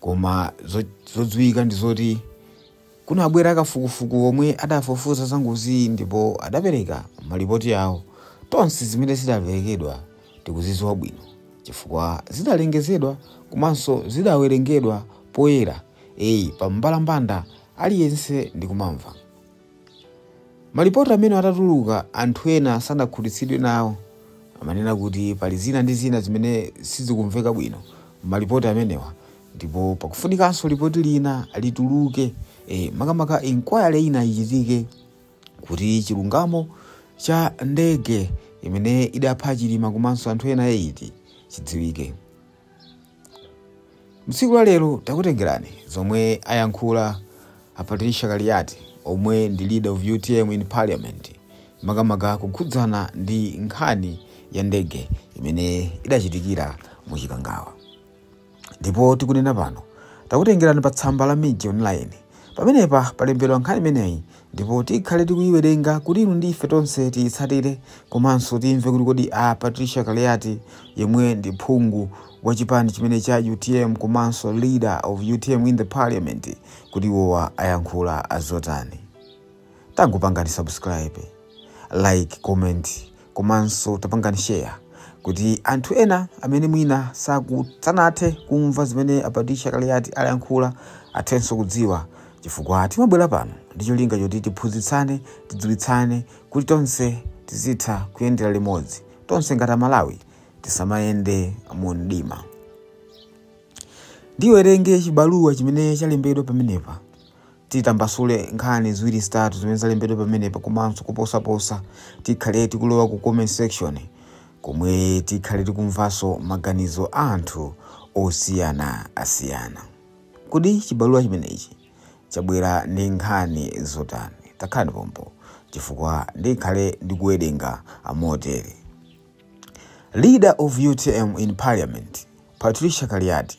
koma zo- zodziwika ndi zoti kunabwera kafukufuku omwe adafufuza za ngoziyi ndipo adapereka malipoti awo tonse zimene zidaperekedwa tikuzidziwa bwino chifukwa zidalengezedwa komanso zidawerengedwa poyera eyi pa mbalambanda aliyense ndikumamva Malipoti amenewa atatuluka, anthu ena sanakhutitsidwe nawo. Amanena kuti pali zina ndi zina zimene sizikumveka bwino m'malipoti amenewa ndipo pakufunikanso lipoti lina lituluke, e, makamaka inquiry ina ichitike kuti chilungamo cha ndege imene idapha Chilima komanso anthu ena 8 chidziwike. Mtsiku la lero takutengerani zomwe ayankhula a Patricia Kaliati omwe ndi leader of utm in parliament makamaka kukhudzana ndi nkhani ya ndege imene idachitikira mu Chikangawa. Ndipo tikunena pano takutengerani pa tsamba la Mij Online. Pamenepa palembedwa nkhani imeneyi ndipo tikhale tikuyiwerenga kuti inu ndi ife tonse tiyitsatire komanso timve kuti kodi a Patricia Kaliati yemwe ndi phungu wa chipani chimenechi cha utm komanso leader of utm in the parliament kuti iwowa ayankhula zotani tangopangani subscribe like comment Komanso tapangani share kuti anthu ena amene mwina sanathe kumva zimene a Patricia Kaliati ayankhula athenso kudziwa, chifukwa timabwera pano ndi cholinga choti tiphunzitsane, tidziwitsane kuti tonse tizitha kuyendera limodzi. Tonse ngati Amalawi tisamayende mu mdima. Ndiwerenge chibaluwa chimene chalembedwa pamenepa. titambasule nkhani ziwiri zitatu zimene zalembedwa pamenepa komanso kuposaposa tikhale tikulowa ku comment section komwe tikhale tikumvanso maganizo a anthu osiyanasiyana kodi chibaluwa chimenechi chabwera ndi nkhani zotani takhalani pompo chifukwa ndikhale ndikuwerenga motere leader of utm in parliament patricia kaliati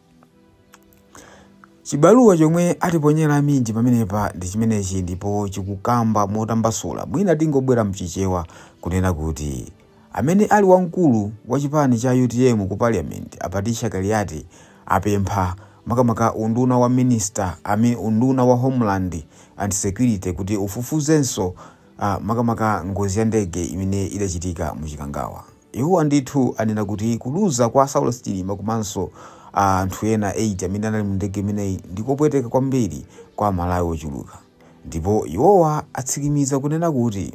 Chibaluwa chomwe atiponyera a Mij pamenepa ndi chimenechi ndipo chikukamba motambasula mwina tingobwera mchichewa kunena kuti amene ali wamkulu wa chipani cha utm ku parliament a Patricia Kaliati apempha makamaka unduna wa minister a unduna wa homeland and security kuti ufufuzenso a makamaka ngozi ya ndege imene idachitika mu Chikangawa. Iwowa ndithu anena kuti kuluza kwa Saulos Chilima komanso a anthu ena 8 amene anali mu ndege imeneyi ndi kopweteka kwambiri kwa Amalawi ochuluka. Ndipo iwowa atsimikiza kunena kuti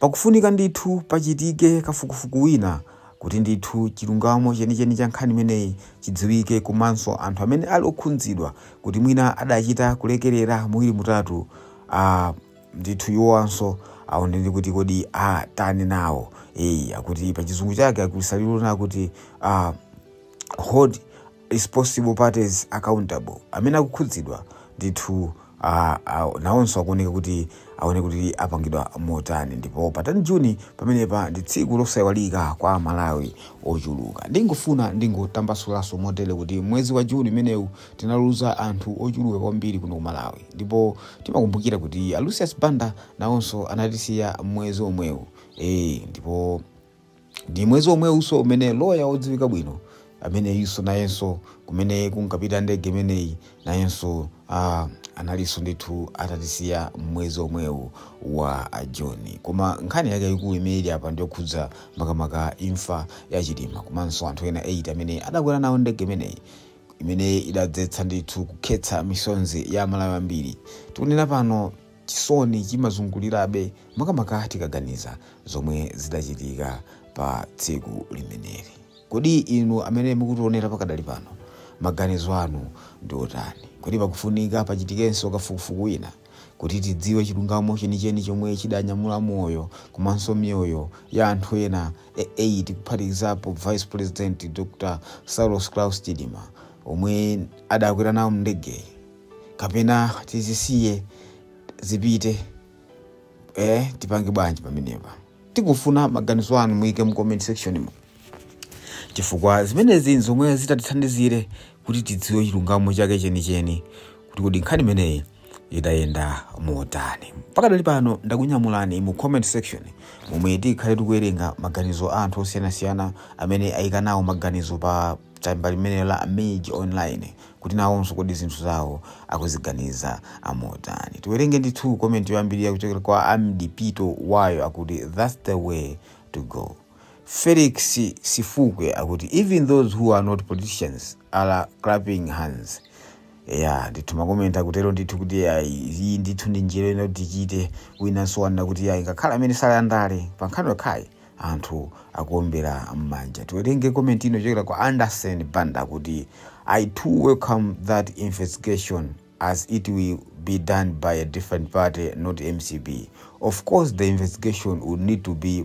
pakufunika ndithu pachitike kafukufuku wina kuti ndithu chilungamo chenicheni cha nkhani imeneyi chidziwike komanso anthu amene ali okhudzidwa kuti mwina adachita kulekerera muwiri mutatu Ah, ndithu iwowanso aonene kuti kodi ah, atani nawo eyi akuti pa chizungu chake akuti Salilona kuti ah, hold responsible parties accountable amene akukhudzidwa ndithu ah, ah, nawonso akuoneka kuti aone kuti apangidwa motani ndipo pa 10 June pamenepa ndi tsiku losaiwalika kwa amalawi ochuluka ndingofuna ndingotambasulanso motere kuti mwezi wa June umenewu tinaluza anthu ochuluka kwambiri kuno ku malawi ndipo timakumbukira kuti a lucius banda nawonso anatisiya mwezi omwewu e, ndipo ndi mwezi omwewunso umene loya wodziwika bwino ameneyinso nayenso kumene kunkapita ndege imeneyi nayenso ah, analinso ndithu atatisiya mwezi omwewu wa June koma nkhani yake ikulu imene ili apa ndiyokhudza makamaka imfa ya chilima komanso anthu ena 8 amene adakwera nawo ndege imeneyi imene idadzetsa ndithu kukhetsa misonzi ya amalawi ambiri tikunena pano chisoni chimazungulirabe makamaka tikaganiza zomwe zidachitika pa tsiku limeneli kodi inu amene mukutionera pakadali pano maganizo anu ndi otani kodi pakufunika pachitikenso kafukufuku wina Kuti tidziwe chilungamo chenicheni chomwe chidanyamula moyo komanso miyoyo ya anthu ena 8 kuphatikizapo Vice President Dr Saulos Klaus Chilima omwe adakwera nawo m'ndegeyi kapena tizisiye zipite eh, tipange bwanji pamenepa? Tikufuna maganizo anu, muyike mu comment section mu. chifukwa zimenezi nzomwe zitatithandizire kuti tidziwe chilungamo chake chenicheni kuti kodi nkhani imeneyi idayenda motani pakadali pano ndakunyamulani mu comment section momwe tikhale tikuwerenga maganizo a anthu osiyanasiyana amene ayika nawo maganizo pa tsamba limeneli la mage online kuti nawonso kodi zinthu zawo akuziganiza motani tiwerenge ndithu komenti yoyambirira kuchokera kwa amdipito wayo akuti thats the way to go Felix Sifukwe akuti even those who are not politicians are clapping hands ya ndithu makomenti akutero ndithu kuti ayi iyi ndithu ndi njira ina kuti tichite winanso wanena kuti ayi ngakhale amene sali pa ndale pa nkhani yokhayi anthu akuombera m'manja tiwerenge komenti ina yochokera kwa anderson banda akuti i too welcome that investigation as it will be done by a different party not mcp of course the investigation would need to be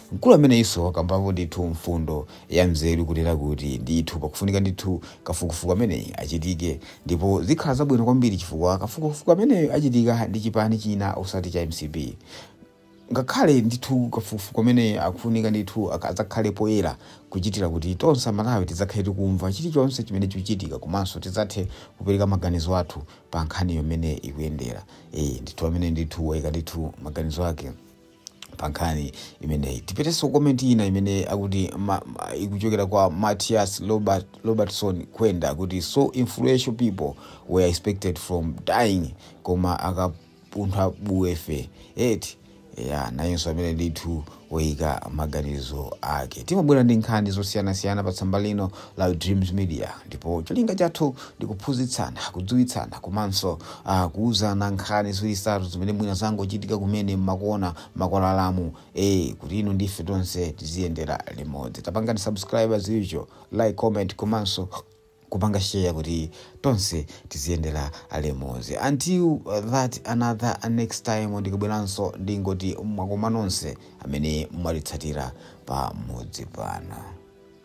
Mkulu ameneyunso wakambapo ndithu mfundo ya nzeru kunena kuti ndithu pakufunika ndithu kafukufuku ameneyu achitike ndipo zikhala zabwino kwambiri chifukwa kafukufuku ameneyu achitika ndi chipani china osati cha mcp ngakhale ndithu kafukufuku ameneyu akufunika ndithu azakhale poyera kuchitira kuti tonse amalawi tidzakhale tikumva chilichonse chimene chikuchitika komanso tidzathe kupereka maganizo athu pa nkhaniyo mmene ikuyendera ee ndithu amene ndithu waika ndithu maganizo ake pa nkhani imeneyi tipitenso komenti ina imene akuti ikuchokera kwa matias robertson kwenda akuti so influential people were exempted from dying koma akapuntha buwefe eti ya nayenso amene ndithu woyika maganizo ake timabwera ndi nkhani zosiyanasiyana pa tsamba lino Live Dreams Media ndipo cholinga chathu ndi kuphunzitsana, kudziwitsana komanso uh, kuuzana nkhani ziwiri zitatu zimene mwina zangochitika kumene mmakona makwalalamu eh kuti inu ndife tonse tiziyendera limodzi. Tapangani subscribe ku channel chino, like, comment komanso kupanga share kuti tonse tiziyendera limodzi. Until uh, that another uh, next time ndikabweranso ndingoti mwakoma nonse amene mwatitsatira pamudzi pano.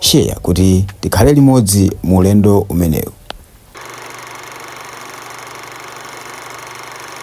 Share kuti tikhale limodzi mu ulendo umenewu.